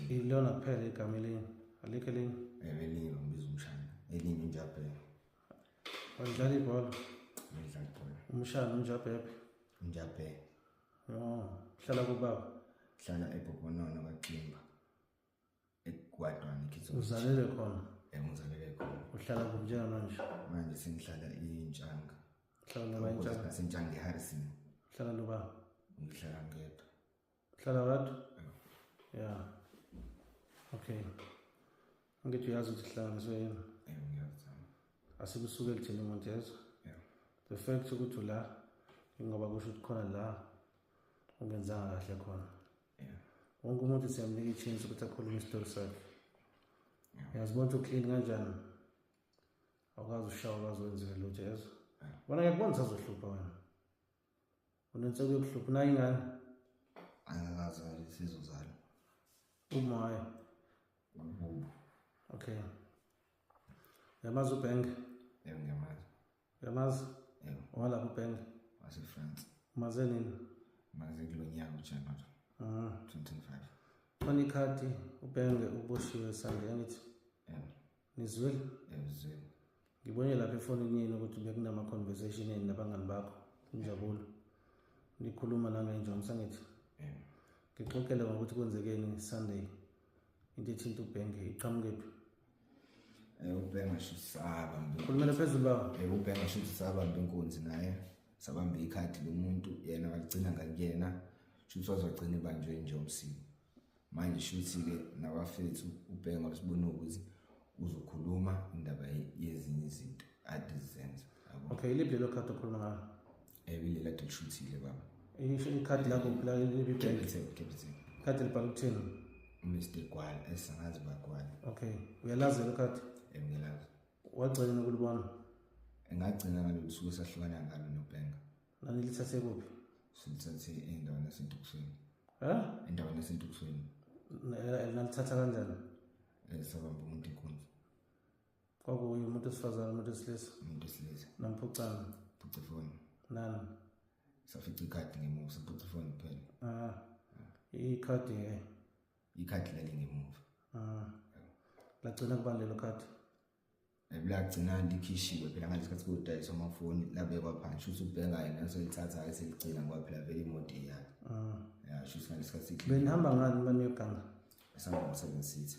Ilona kuphela igama elinye alikho elinye ewe elinye lombiza umshana elinye unjabhebe walidlala ibhola ngidlala ibhola umshana unjabhebe unjabhebe oh hlala kubaba hlala ebhobhonono kaximba ekwadwana ikhizo uzalele khona eh ngizalele khona uhlala kuphi njengamanje manje sengihlala intshanga hlala la intshanga sentshanga eharrison hlala loba ngihlala ngedwa hlala kodwa ya okay angithi uyazi ukuthi hlala ngisoyena eh ngiyazi asikusuke lithini umuntu yezwa the fact ukuthi ula ingoba kusho ukuthi khona la ungenzanga kahle khona wonke umuntu siyamnika i-chance ukuthi akhulume isitori sakhe yazi bonke uklini kanjani awukwazi ushawa ukwazi wenzile lutho yezo wona ngiyakubona sazohlupha wena unentseko yokuhlupha unayo ingane angikazi sizozala umayo okay yamazi ubhenke yebo ngiyamazi Uyamazi? Yebo. Walapha uBenga. Wase France. Maze nini? Maze kulo nyaka uJanuary. Ah. 2025. Khona ikhadi uBenge uboshiwe sande angithi. Yebo. Nizwile? Yebo, zwile. Ngibone lapha efonini yenu ukuthi bekunama conversation yenu nabangani bakho. Injabulo. Nikhuluma la ngenjongo sangithi. Yebo. Ngixoxele ngokuthi kwenzekeni Sunday. Into ethinta uBenge iqhamuke phi? Eh, ubhenga sho saba khulumela phezulu baba eh, ubhenga sho sabamba inkunzi naye sabamba ikhadi lomuntu yena waligcina ngakuyena shuthi wazogcina ibanjwe nje umsini manje shuthi-ke nabafethu ubhenga wasibona ukuthi uzokhuluma indaba yezinye izinto ade zizenza okay iliphi lelo khadi okhuluma ngalo Ebile la dilishutile baba. Isho ikhadi lakho phela libi bank. Capital, capital. Ikhadi libhala ukuthini? Mr. Gwala, esangazi bagwala. Okay. Uyalazi lo khadi? Engiyalazi. Wagcina nokulibona? Engagcina ngalo lusuku sahlukana ngalo noBhenga. Nani lithathe kuphi? Silithathe endaweni yaseNtukusweni. Ha? Endaweni yaseNtukusweni. Nalithatha kanjani? Esabamba umuntu inkunzi. kwakuye umuntu wesifazane umuntu wesilisa umuntu wesilisa namphucana phuca ifoni nani safica ikhadi ngemuva saphuca ifoni kuphela ah ikhadi ke ikhadi lali ngemuva ah lagcina kubani lelo khadi ebulagcina likhishiwe phela ngalesi khathi kudayiswa amafoni labekwa phansi shuthi ubheka yena esolithathayo seligcina ngoba phela vele imoto iyakhe ah. ya shuthi ngalesi khathi benihamba ngani uma niyoganga esihamba ngo-seven sitha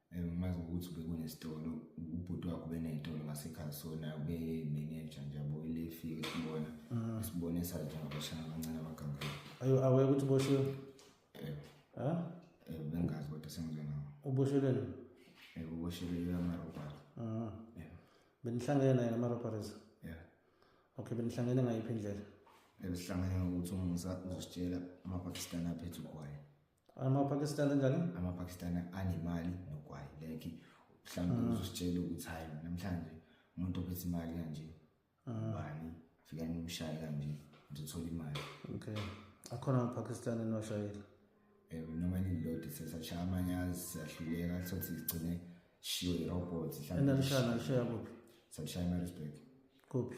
ngimazi ukuthi bekunesitolo ubhuti wakho beney'tolo ngasekhaya sona bemeneja nje yabo ile fike sibona mm. sibone sathi abashana abancane abagangela ayo aweke ukuthi uboshiwe um bengazi kodwa sengizwe nawo ubosheleni um uboshelele amarobari mm. benihlangene naye ngama-robaries ya okay benihlangene ngayiphi indlela besihlangene ngokuthi umngisa uzositshela amapakistani aphethe ugwaye amapakistani njani amapakistani anemali nogwayi like mhlawumbe mm. uzositshela ukuthi hayi namhlanje umuntu ophethe imali kanje mm. ubani afika nimshaye kanje ngizothola imali okay akhona amapakistani enwashayile eh, noma lilodwa sesashaya amanye azisahluleka sothi sigcine shiwe irobot enalishaya nalishaya kuphi salishaya emarisburg kuphi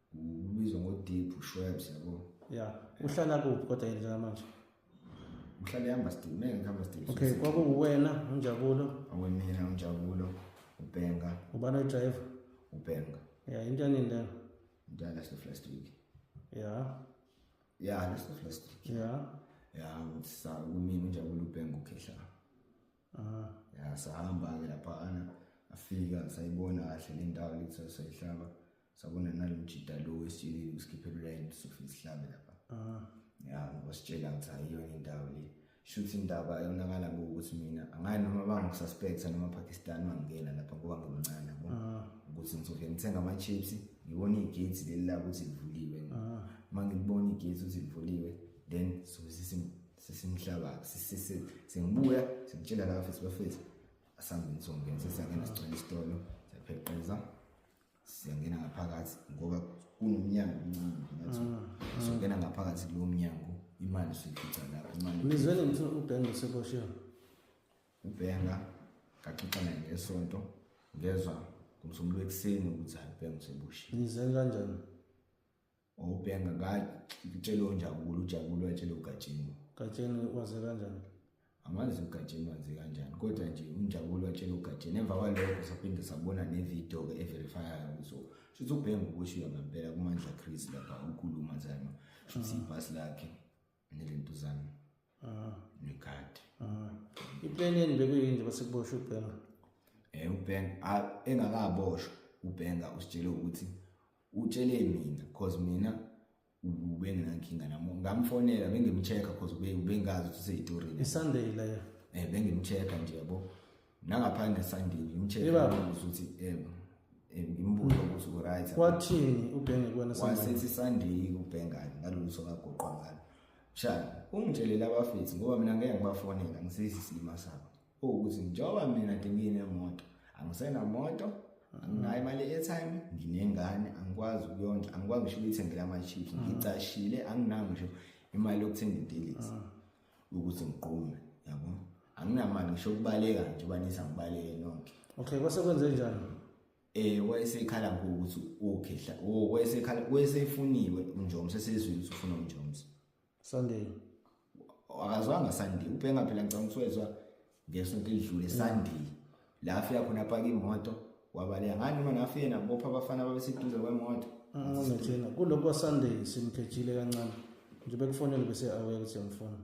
Ubizwa ngoDeep uShwebs yabo. Yeah. Uhlala kuphi kodwa yena njengamanje? Uhlala ehamba still, mina ngihamba still. Okay, kwakuwena uNjabulo. Awemina uNjabulo, uBhenga. Ubani oyidrayiva? uBhenga. Yeah, into yanini leyo? Into yalast the first week. Yeah. Yeah, last the first week. Yeah. Yeah, ngitsa kumina uNjabulo uBhenga ukhehla. Aha. Yeah, sahamba ke lapha ana afika sayibona kahle le ndawo lethu sayihlaba. sabona nalomjita lo wesitsheli usikhiphela ulayini sofa isihlabe lapha ah. ya ngoba sitshela ukuthi ayiyona indawo le shuthi indaba yonakala ukuthi mina angayi noma bangisuspecta noma pakistan bangingena lapha ngoba ngimncane yabo ah. ukuthi ngizovele ngithenga ama-chips ngibone igate leli la ukuthi livuliwe uma ah. ngilibona igate ukuthi livuliwe then sobe sesimhlaba sengibuya sengitshela laba fesi bafesi asangeni songena sesiyangena sigcwele isitolo siyapheqeza siyangena ngaphakathi ngoba kunomnyango omncane ngathi mm, mm. siyongena ngaphakathi kulo mnyango imali siyifica lapho imali nizwele ngithi ubhenga useboshiwe ubhenga ngaxoxa naye ngesonto ngezwa ngomsombuluko ekuseni ukuthi hayi ubhenga useboshiwe nizwele kanjani wawubhenga ngitshele onjabulo ujabulo watshele ugatsheni gatsheni waze kanjani angazi ugatsheni waze kanjani kodwa nje unjabulo watshele ugatsheni emva kwalokho saphinde sabona nevidiyo-ke everifyayo so shuthi ubhenga ukushiya ngampela kumandla chris lapha ukhuluma zama shuthi ibhasi lakhe nelintu zami ah. nekati ah. ipeni yeni bekuyini nje basekuboshwa ubhenga eh ubhenga ah, engakaboshwa ubhenga usitshele ukuthi utshele mina cause mina ubenginankinga namo ngamfonela bengimcheck cause ubengazi ukuthi useyitorini isunday leyo eh bengimcheck nje yabo nangaphandle esandini ngimtshele Yebaba. ukuthi uthi em em, ngimbuze ukuthi uright kwathini ubhenge kuwena sandini wasethi sandiyi kubhengane ngalolu suku agoqwa ngalo shana ungitshelele abafethu ngoba mina ngeke ngibafonela ngisisi isilima sabo ukuthi njengoba mina nginginemoto angisenamoto anginayo imali e-airtime nginengane angikwazi ukuyondla angikwazi ngisho ukuyithengela ama-chips ngicashile anginayo ngisho imali yokuthenga intelisi ukuthi ngiqume yabo anginamali ngisho ukubaleka nje ubanisa ngibaleke nonke okay kwase kwenze njani eh wayesekhala ngokuthi ukhehla oh wayesekhala wayesefuniwe unjomo sesizwile ukuthi ufuna unjomo Sunday akazwanga Sunday ubhenga phela ngicabanga ukuthi wezwa ngesonto elidlule Sunday la afika khona apaka imoto wabaleka ngani noma nafika yena bopha abafana babeseduze kwemoto ngithina kuloko Sunday simkhethile kancane nje bekufonele bese awuya ukuthi yamfona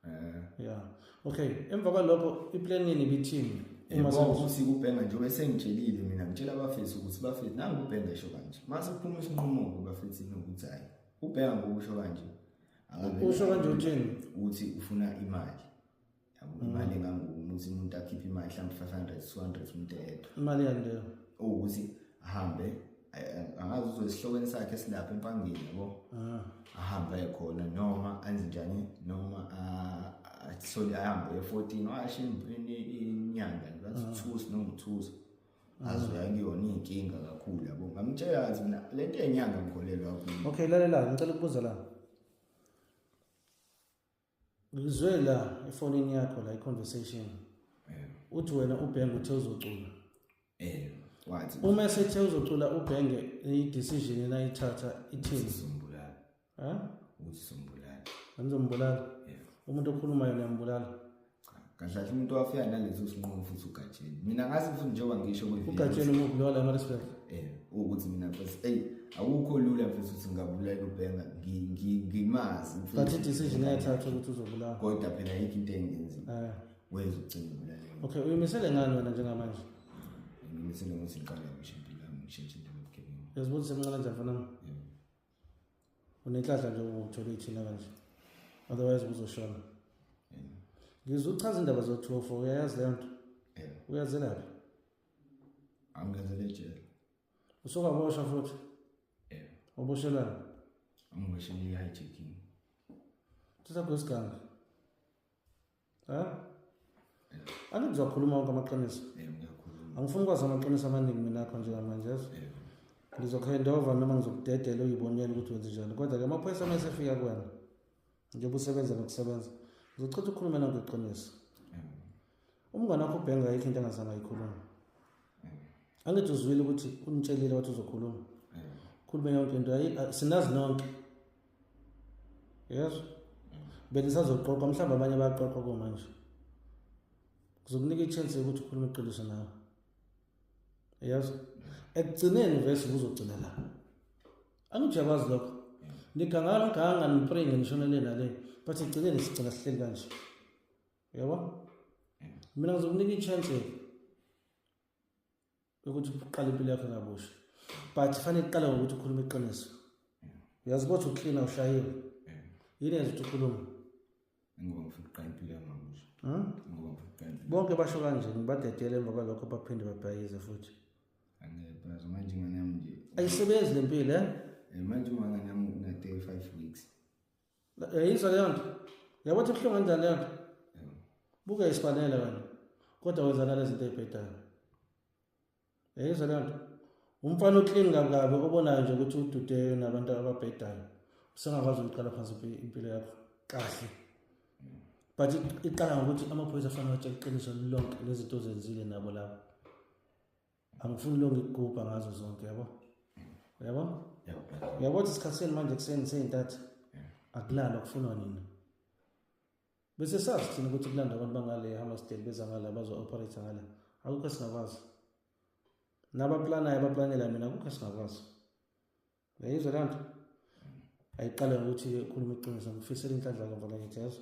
eh yeah okay emva kwalokho iplan yini bithini uma sekuthi kubhenga nje bese ngitshelile mina ngitshela abafethu ukuthi bafethu nangu ubhenga esho kanje mase kuphuma isinqumo kubafethu nokuthi hayi ubhenga ngokusho kanje usho kanje uthini uthi ufuna imali imali mm. engangokuthi umuntu akhiphe imali mhlawumbe five hundred two hundred umuntu eyedwa imali yani leyo owukuthi ahambe angazi uzosihlokweni sakhe silapha empangeni yabo ah. ahambe aye khona noma anze njani noma athole ahambe e-fourteen washo inyanga ngasithusi ah. noma uthusi ah. azoya kuyona iy'nkinga kakhulu yabo ngamtshela kathi mina le nto yenyanga ngikholelwa kuyo okay lalelani ngicela ukubuza lana Ngizwe la efonini yakho la i-conversation. Yebo. Uthi wena ubhenge uthe uzocula. Yebo. Wathi Uma esethe uzocula ubhenge i-decision enayithatha ithini? uzombulala. Ha? Uzombulala. Angizombulala. Yebo. Umuntu okhulumayo niyambulala. kahle kahle umuntu wafika naleso sinqumo futhi ugatsheni mina ngazi futhi njengoba ngisho ugatsheni umuphi lowa la maresibek eh ukuthi mina futhi ey awukho lula futhi ukuthi ngabulala ubhenga ngimazi but i-decision ayathatha ukuthi uzobulawa kodwa phela yikho into engenzima eh. wenza ucinga ubulala okay uyimisele ngani wena njengamanje ngimisele ukuthi ngiqale ngisho impilo yami ngishintshe into yobugebengu yazibona semncane njani fanami unenhlanhla nje ukuthola ithina kanje otherwise uzoshona ngizwe uchaza indaba zothofo uyayazi leyo nto uyazelaphi angenzele ejele usokaboshwa futhi oboshelana angiboshelile i-hijacking sisakho isiganga anti kuzakhuluma wonke amaqiniso angifuni ukwazi amaqiniso amaningi mina akho njengamanje yezo ngizokhendova noma ngizokudedela uyibonele ukuthi wenze njani kodwa-ke amaphoyisa uma esefika kwena njengoba usebenza nokusebenza ngizochitha ukukhuluma nango iqiniso umngane wakho ubhenga ayikho into engazange ayikhuluma angithi uzwile ukuthi unitshelile wathi uzokhuluma khuluma yonke into sinazi nonke yes benisazoqoqa mhlawumbe abanye bayaqoqa komanje kuzokunika i-chance yokuthi ukhulume iqiniso nawe yes ekugcineni vese kuzogcina la angijabazi lokho nigangana nganga nipray ngenishona le nale but ekugcineni sigcina sihleli kanje yabo mina ngizokunika i-chance ukuthi uqale impilo yakho ngabusha but fanele uqale ngokuthi ukhulume iqiniso uyazi ukuthi uklina ushayiwe yini yenza ukuthi ukhulume ngoba ngifuna uqala impilo yami ngabusha hmm? ngoba ngifuna uqala impilo bonke basho kanje ngibadedele emva kwalokho baphinde babhayize futhi angeke phela manje ingane yami nje ayisebenzi lempilo eh, eh manje ingane yami una 35 weeks yayizwa leyo nto yabo ukuthi buhlungu kanjani leyo nto buke isifanele wena kodwa wenzana lezi zinto ey'bhedayo yayizwa leyo nto umfana oklini kabi kabi obonayo nje ukuthi ududeyo nabantu ababhedayo usengakwazi ukuqala phansi impilo yakho kahle but iqala ngokuthi amaphoyisa afanele atshela iqiniso lonke lezinto ozenzile nabo labo angifuni lo ngikugubha ngazo zonke yabo yabo yabo ukuthi isikhathi senu manje kuseni seyintatha akulala kufunwa nina bese sazi thina ukuthi kulanda abantu bangale hamastel beza ngala bazo-operate ngala akukho singakwazi nabaplanayo abaplanela mina akukho singakwazi uyayizwa le nto ayiqale ngokuthi ukhuluma iqiniso ngifisela inhlanhla kamva nakithi yazo